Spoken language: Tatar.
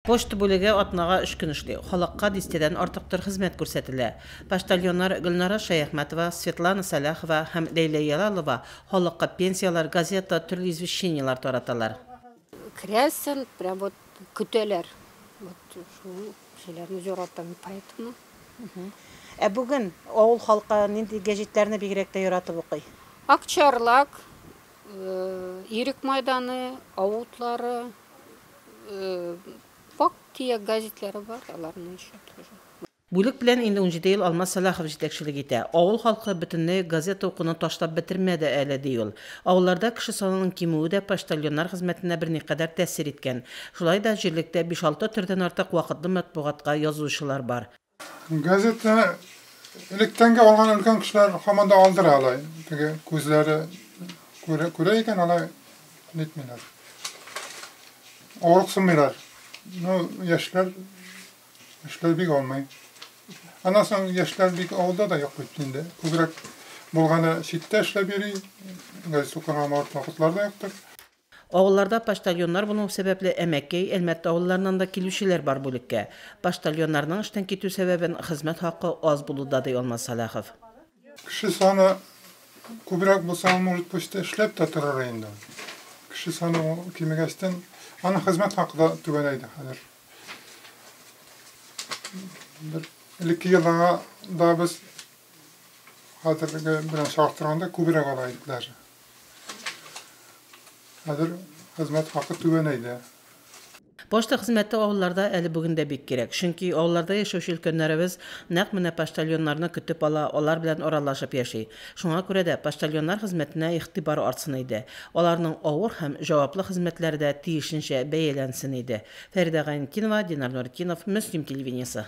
Почта бүлеге атнага өч көн эшли, халыкка дистәдән артык төр хезмәт күрсәтелә. Почтальоннар Гөлнара Шәяхмәтова, Светлана Сәлахова һәм Ләйлә Яралова халыкка пенсияләр, газета, төрле извещениеләр тараталар. Керәсен, прям вот көтәләр. Вот шул кешеләрне яратам мин, поэтому. Ә бүген авыл халкы нинди гәҗитләрне бигрәк тә яратып укый? Акчарлак, Ирек майданы, Ау утлары, Факт төяк газетлары бар, аларны ещё тоже. Бүлек белән инде унҗиде ел Алмаз Сәлахов җитәкчелек итә. Авыл халкы бөтенләй газета укуны ташлап бетермәде әле, ди ул. Авылларда кеше санының кимүе дә почтальоннар хезмәтенә берникадәр тәэсир иткән. Шулай да җирлектә биш-алты төрдән артык вакытлы матбугатка язучылар бар. Газетны электән дә алган өлкән кешеләр һаман да алдыра алай. Теге күзләре күрә, күрә икән алай нитмиләр. Авырыксынмыйлар. Ну, яшьләр яшьләр бик алмый. Аннан соң яшьләр бик авылда да юк бит инде. Күбрәк булганы читтә эшләп йөри. Газет укырга вакытлар да юктыр. Авылларда почтальоннар булмау сәбәпле Әмәкәй, Әлмәт авылларыннан да килүчеләр бар бүлеккә. Почтальоннарның эштән китү сәбәбен хезмәт хакы аз булуда, ди Алмаз Сәлахов. Кеше саны күбрәк булса, ул, может, почта эшләп тә торыр инде. Кеше саны кимегәчтен, аның хезмәт хакы да түбәнәйде хәзер. Бер элекке елларга да без хәзерге белән чагыштырганда күбрәк ала идек даже. Хәзер хезмәт хакы түбәнәйде. Почта хезмәте авылларда әле бүген дә бик кирәк, чөнки авылларда яшәүче өлкәннәребез нәкъ менә почтальоннарны көтеп ала, алар белән аралашып яши. Шуңа күрә дә почтальоннар хезмәтенә игътибар артсын иде, аларның авыр һәм җаваплы хезмәтләре дә тиешенчә бәяләнсен иде. Фәридә Гайнетдинова, Динар Нуретдинов, Мөслим телевидениесе.